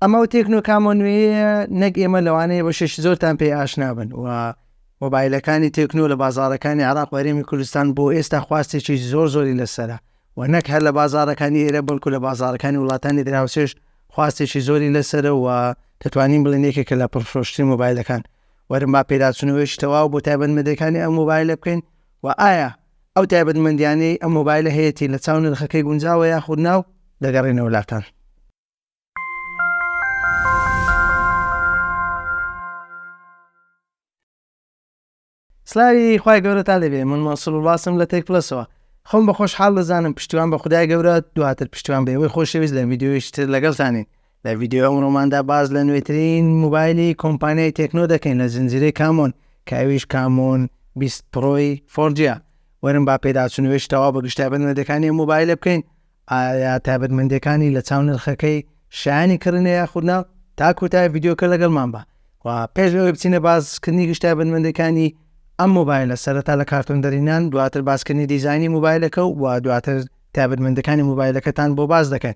ئەمە و تێکنۆکامۆ نوێیە نەک ئێمە لەوانەیە بە شش زۆرتان پێ ئاشنابن و مۆبایلەکانی تێکنۆ لە بازارەکانی عراق وەرێمی کوردستان بۆ ئێستا خواستێکی زۆر زۆری لەسرە و نەک هەر لە بازارەکانی ئێرە بەڵکو لە بازارەکانی وڵاتانی دراوسێش خواستێکی زۆری لەسرە و دەتوانین بڵێن یەکێکە لە پڕفرۆشتری مۆبایلەکان وەرم با پێداچونەوەیش تەواو بۆ تایبەت مەدەکانی ئەم مۆبایلە بکەین و ئایا ئەو تایبەتمەندیانەی ئەم مۆبایلە هەیەتی لە چاو نرخەکەی گونجاوە یاخود نا و دەگەڕێنەوە لاتان. سلاوی خی گەورە تا دەبێ من مەسڵ وڵاسم لە تێک پلسەوە خۆم بە خۆشحاڵ دەزانم پشتیوان بە خدای گەورە دواتر پشتیوان بە ئەوەی خۆشەویست لە ویددیویشتر لەگەڵتانین لە ڤیدیۆی ئەمڕۆماندا باس لە نوێترین موبایلی کۆمپانیای تێکنۆ دەکەین لە زنجیرەی کامۆن کە ئەویش کامۆن بیست پڕۆی فۆرجیە وەرن با پێداچوونەوەش تەوا بە گشت تایبەتمەندەکانی ئەم موبایلە بکەین ئایا تایبەتمەندەکانی لە چاو نرخەکەی شایانی کڕینە یاخودنا تا کۆتای ڤیددیوکە لەگەڵمان بە و پێش لەوەی بچینە باسکردنی گشت تایبەتمەندەکانی ئەم موبایلە سەرەتا لە کارتۆن دەرینان دواتر باسکردنی دیزانی موبایلەکە و دواتر تابەتمەندەکانی موبایلەکەتان بۆ باز دەکەن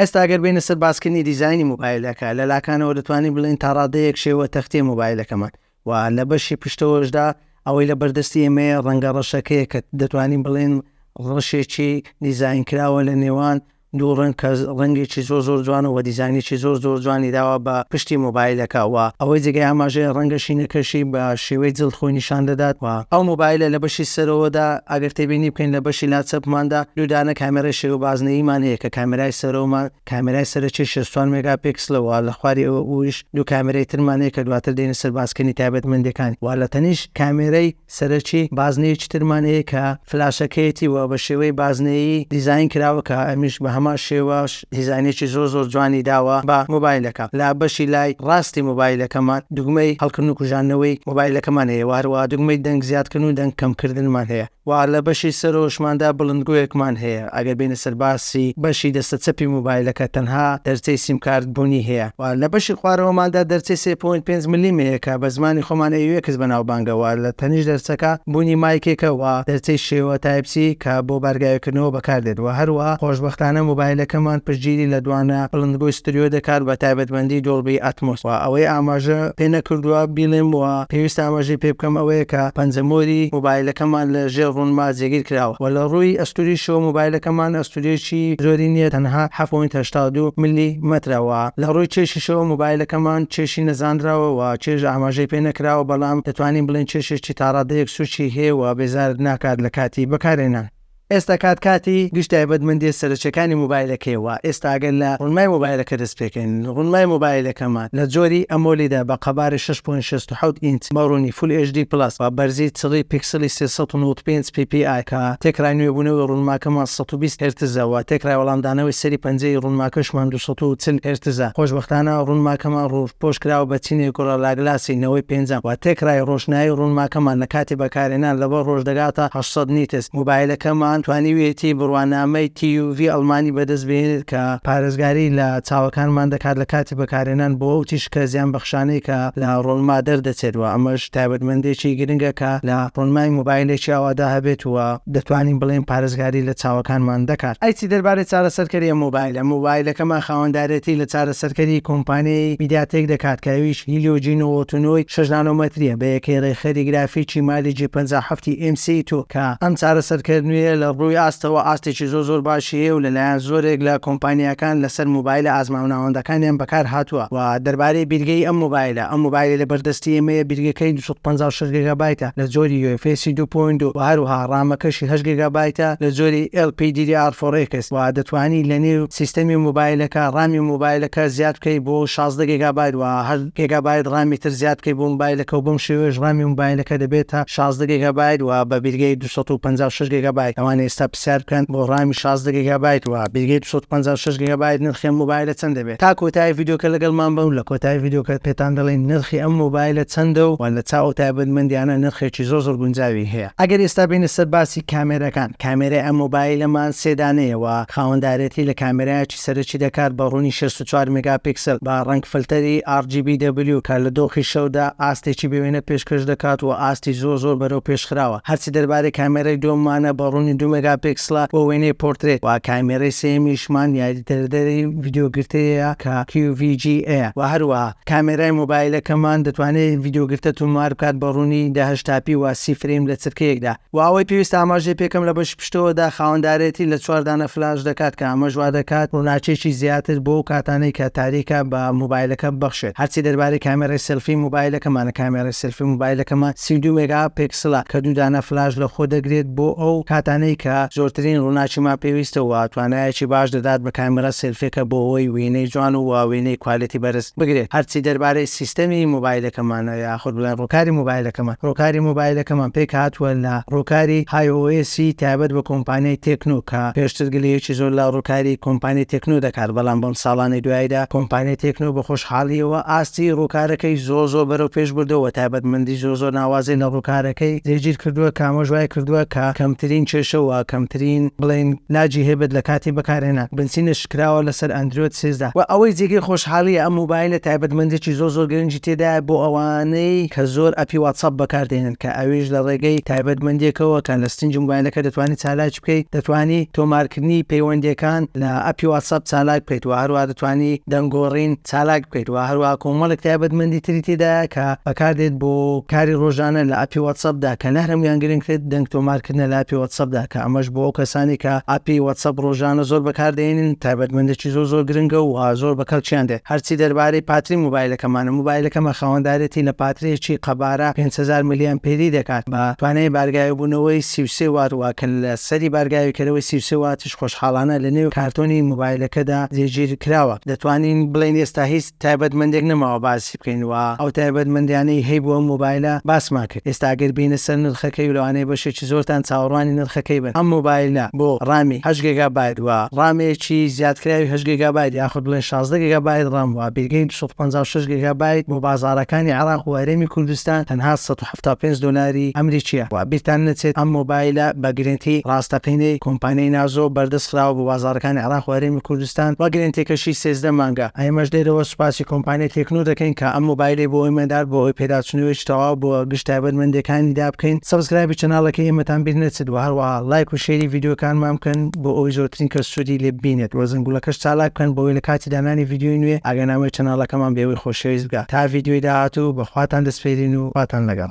ئێستا گەر بێینە سەر باسکردنی دیزاینی مۆبایلەکە، لە لاکانەوە دەتوانین بڵێین تا ڕادەیەک شێوە تەختییە مۆبایلەکەمان و لە بەشی پشتەوەشدا ئەوەی لە بەردەستی ئێمەیە ڕەنگە ڕەشەکەیە کە دەتوانین بڵێین ڕەشێکی دیزاین کراوە لە نێوان دوو ڕەنگ کە ڕەنگێکی زۆر زۆر جوانە و دیزاینێکی زۆر زۆر جوانی داوە بە پشتی مۆبایلەکە و ئەوەی جێگای ئاماژەیە ڕەنگە شینەکەشی بە شێوەی جڵد خۆی نیشان دەدات و ئەو مۆبایلە لە بەشی سەرەوەدا ئەگەر تێبینی بکەین لە بەشی لا چەپماندا دوو دانە کامێرای شێوە بازنەییمان هەیە کە کامێرای سەرەوەمان کامێرای سەرەکی شەست و چوار مێگا پیکسلە وە لە خواری ئەوە ئویش دوو کامێرای ترمان هەیە کە دواتر دێنە سەر باسکردنی تایبەتمەندیەکانی وە لە تەنیشت کامێرای سەرەکی بازنەیەکی ترمان هەیە کە فلاشەکەیەتی وە بە شێوەی بازنەیی دیزاین کراوە کە ئەمیش بە هەمان شێوەش دیزاینێکی زۆر زۆر جوانی داوە بە مۆبایلەکە لە بەشی لای ڕاستی مۆبایلەکەمان دوگمەی هەڵکردن و کوژاندنەوەی مۆبایلەکەمان هەیە وە هەروەها دوگمەی دەنگ زیادکردن و دەنگ کەم کردنمان هەیە وە لە بەشی سەرەوەشماندا بڵندگۆیەکمان هەیە ئەگەر بێینە سەر باسی بەشی دەستە چەپی مۆبایلەکە تەنها دەرچەی سیمکارت بوونی هەیە وە لە بەشی خوارەوەماندا دەرچەی سێ پۆینت پێنج ملیم هەیە کە بە زمانی خۆمان ئەیوێکس بەناوبانگە وە لە تەنیشت دەرچەکە بوونی مایکێکە و دەرچەی شێوە تایپ سی کە بۆ بارگاویکردنەوە بەکاردێت و هەروەها خۆشبەختانە مۆبایلەکەمان پشتگیری لە دوانە بڵندگۆی ستریۆ دەکات بە تایبەتمەندی دۆڵبی ئاتمۆس و ئەوەی ئاماژە پێنەکردووە بیڵێم و پێویستە ئاماژەی پێبکەم ئەوەیە کە پەنجە مۆری مۆبایلەکەمان لە ژێر ڕوونما جێگیر کراوە و لە ڕووی ئەستوریشەوە مۆبایلەکەمان ئەستورێکی زۆری نییە تەنها حەفت پۆینت هەشتا و دوو ملی مەترە و لە ڕووی چێشیشەوە مۆبایلەکەمان چێشی نەزانراوە و چێژ ئاماژەی پێنەکراوە بەڵام دەتوانین بڵێین چێشێکی تاڕادەیەک سوچی هەیە و بێزارت ناکات لە کاتی بەکارهێنان. ئێستا کات کاتی گشت تایبەتمەندیە سەرەکیەکانی مۆبایلەکەیە وە ئێستا گەر لە ڕونمای مۆبایلەکە دەست پێکەین ڕونمای مۆبایلەکەمان لە جۆری ئەمۆلیدە بە قەبارەی شەش پۆینت شەست و حەوت ئینچ بە ڕونی فول ئێچ دی پڵەس و بەرزی چڵی پیکسڵی سێ سەد و نەوەد و پێنج پی پی ئای کە تێکڕای نوێبونەوەی ڕونماکەمان سەد و بیست هێرتزە وە تێکڕای وەڵامدانەوەی سەری پەنجەی ڕونماکەشمان دوو سەد و چل هێرتزە خۆشبەختانە ڕونماکەمان ڕوو پۆش کراوە بە چینێک گوڕە لاگلاسی نەوەی پێنجەم و تێکرای ڕۆشنایی ڕوونماکەمان لە کاتی بەکارهێنان لەوە ڕۆژ دەگاتە هەشت سەد نیتس. موبایلەکەمان توانیویەتی بڕوانامەی TUV ئەڵمانی بەدەست بهێنێت کە پارێزگاری لە چاوەکانمان دەکات لە کاتی بەکارهێنان بۆ ئەو تیشکە زیانبەخشانەی کە لە ڕۆنما دەردەچێت و ئەمەش تایبەتمەندیەکی گرنگە کە لە ڕۆنمای موبایلێکی ئاوادا هەبێت و دەتوانین بڵێین پارێزگاری لە چاوەکانمان دەکات. ئەی چی دەربارەی چارەسەرکەرییە مۆبایلە؟ مۆبایلەکەمان خاوەندارێتی لە چارەسەرکەری کۆمپانیای میدیاتێک دەکات کە ئەویش هیلیۆ جی نەوەد و نۆ ی شەش نانۆمەترییە بە یەکەی ڕێکخەری گرافیکی مالی جی پەنجا و حەفت ی ئێم سی تو کە ئەم چارەسەرکەر نوێیە لە ڕووی ئاستەوە ئاستێکی زۆر زۆر باشی هەیە و لەلایەن زۆرێک لە کۆمپانیاکان لەسەر مۆبایلە ئازماو ناوەندەکانیان بەکارهاتووە و دەربارەی بیرگەی ئەم مۆبایلە ئەم مۆبایلە لەبەردەستی ئێمەیە بیرگەکەی پەنجا و شەش گێگابایتە لە جۆری یو ئێف ئێسی دوو پۆینت دوو و هەروەها ڕامەکەشی هەشت گێگابایتە لە جۆری ئێڵ پی دی دی ئاڕ فۆر ئێکس و دەتوانی لە نێو سیستەمی مۆبایلەکە ڕامی مۆبایلەکە زیاد بکەی بۆ شازدە گێگابایت و هەشت گێگابایت ڕامی تر زیاد بکەی بۆ مۆبایلەکە و بەم شێوەیەش ڕامی مۆبایلەکە دەبێتە شازدە گێگابایت و بە بیرگەی دوو سەد و پەنجا و شەش گێگابایت ئەوانە ئێستا سەیر بکەن بۆ ڕامی شازدە گێگابایت وە بیرگەی دوو سەد و پەنجا و شەش گێگابایت نرخی ئەم مۆبایلە چەندە بێت تا کۆتایی ڤیدیۆکە لەگەڵمان بن و لە کۆتایی ڤیدیۆکە پێتان دەڵێین نرخی ئەم مۆبایلە چەندە و لە چاو ئەو تایبەتمەندیانە نرخێکی زۆر زۆر گونجاوی هەیە ئەگەر ئێستا بێینە سەر باسی کامێراکان کامێرای ئەم مۆبایلەمان سێ دانەیە وە خاوەندارێتی لە کامێرایەکی سەرەکی دەکات بە ڕوونی شەست و چوار مێگاپیکسل بە ڕەنگ فلتەری RGBW کە لە دۆخی شەودا ئاستێکی بێ وێنە پێشکەش دەکات و ئاستی زۆر زۆر بەرەو پێش خراوە هەرچی دەربارەی کامێرای دووەممانە بە ڕوونی دوو مێگاپیکسلە بۆ وێنەی پۆرترێت و کامێرای سێیەمیشمان یاریدەردەری ڤیدیۆ گرتەیە کە QVGA ە و هەروەها کامێرای مۆبایلەکەمان دەتوانێت ڤیدیۆ گرتە تۆمار بکات بە ڕوونی دە هەشتا پی و سی فرەیم لە چرکەیەکدا. وە ئەوەی پێویستە ئاماژەی پێکەم لە بەشی پشتەوەدا خاوەندارێتی لە چوار دانە فلاش دەکات کە ئەمەش وا دەکات ڕووناکیەکی زیاتر بۆ ئەو کاتانەی کە تاریکە بە مۆبایلەکە ببەخشێت هەرچی دەربارەی کامێرای سێلفی مۆبایلەکەمانە کامێرای سێلفی مۆبایلەکەمان سی و دوو مێگا پێکسلە کە دوو دانە فلاش لە خۆ دەگرێت بۆ ئەو کاتانەی کە زۆرترین ڕووناکیمان پێویستە وە توانایەکی باش دەدات بە کامێرا سێلفیەکە بۆ ئەوەی وێنەی جوان و وە وێنەی کوالێتی بەرز بگرێت هەرچی دەربارەی سیستەمی مۆبایلەکەمانە یاخود لە ڕووکاری مۆبایلەکەمان. ڕووکاری مۆبایلەکەمان پێکهاتووە لە ڕووکاری های ئۆ ئێسی تایبەت بە کۆمپانیای تێکنۆ کە پێشتر گلەیەکی زۆر لە ڕووکاری کۆمپانیای تێکنۆ دەکات بەڵام بەم ساڵانەی دواییدا کۆمپانیای تێکنۆ بە خۆشحاڵییەوە ئاستی ڕووکارەکەی زۆر زۆر بەرەو پێش بردووە و تایبەتمەندی زۆر زۆر ناوازەی لە ڕووکارەکەی جێگیر کردووە کە ئەمەش وای کردووە کە کەمترین کێشە و کەمترین بڵێین لاجی هەبێت لە کاتی بەکارهێنان. بنچینە کراوە لەسەر ئەندرۆید سێزدە وە ئەوەی جێگەی خۆشحالیە ئەم مۆبایلە تایبەتمەندێکی زۆر زۆر گرنگی تێدایە بۆ ئەوانەی کە زۆر ئەپی واتساپ بەکاردێنن کە ئەویش لە ڕێگەی تایبەتمەندێکەوە کە لە ستنجی مۆبایلەکە دەتوانی چالاکی بکەیت دەتوانی تۆمارکردنی پەیوەندیەکان لە ئەپی واتساپ چالاک بکەیت وە هەروە دەتوانی دەنگۆڕین چالاک بکەیت وە هەروە کۆمەڵێک تایبەتمەندی تری تێدایە کە بەکاردێت بۆ کاری ڕۆژانە لە ئەپی واتساپدا کە لەهەموان گرنگتر دەنگ تۆمارکردنە لە ئەپی واتساپدا کە ئەمەش بۆ ئەو کەسانەی کە ئەپی وەتسەپ ڕۆژانە زۆر بەکاردەهێنن تایبەتمەندێکی زۆر زۆر گرنگە و زۆر بە کەڵکیان دێت هەرچی دەربارەی پاتری موبایلەکەمانە موبایلەکەمە خاوەندارێتی لە پاترێکی قەبارە پێنج هەزار ملیان پێری دەکات بە توانای بارگاوێبوونەوەی سی و سێ وات وە کە لە سەری بارگاویکەرەوەی سی و سێ واتیش خۆشحاڵانە لە نێو کارتۆنی موبایلەکەدا جێگیر کراوە دەتوانین بڵێین ئێستا هیچ تایبەتمەندێک نەماوە باسی بکەین و ئەو تایبەتمەندیانەی هەی بۆ ئەم مۆبایلە باسمان کرد ئێستا ئەگەر بێینە سەر نرخەکەی و لەوانەیە بەشێکی زۆرتان چاوەڕوانی نرخەکەی بن ئەم مۆبایلە بۆ ڕامی هەشت گێگابایت و ڕامێکی زیادکراوی هەشت گێگابایت یاخود بڵێین شازدە گێگابایت ڕام و بێگەی دوو سەد و پەنجا و شەش گێگابایت بۆ بازاڕەکانی عێراق و هەرێمی کوردستان تەنها سەد و تا پێنج دۆلاری ئەمریکییە و بیرتان نەچێت ئەم مۆبایلە بە گرێنتی ڕاستەقینەی کۆمپانیای نازۆ بەردەست خراوە بۆ بازاڕەکانی عێراق و هەرێمی کوردستان و گرێنتیەکەشی سێزدە مانگە، ئێمەش لێرەوە سوپاسی کۆمپانیای تێکنۆ دەکەین کە ئەم مۆبایلەی بۆ ئێمە نارد بۆ ئەوەی پێداچوونەوەیەکی تەواو بۆ گشت تایبەتمەندێکانیدا بکەین، سەبسکرایبی چەناڵەکەی ئێمەتان بیر نەچێت و هەروەها لایک و شێری ڤیدیۆکانمان بکەن بۆ ئەوەی زۆرترین کەس سوودی لێ ببینێت و زەنگوڵەکەش چالاک بکەن بۆ ئەوەی لە کاتی دانانی ڤیدیۆی نوێ ئاگانامەی چەناڵەکەمان بێ. شویست بکە تا ڤیدیۆی داهاتوو بە خواتان دەسپێرین و خواتان لەگەڵ.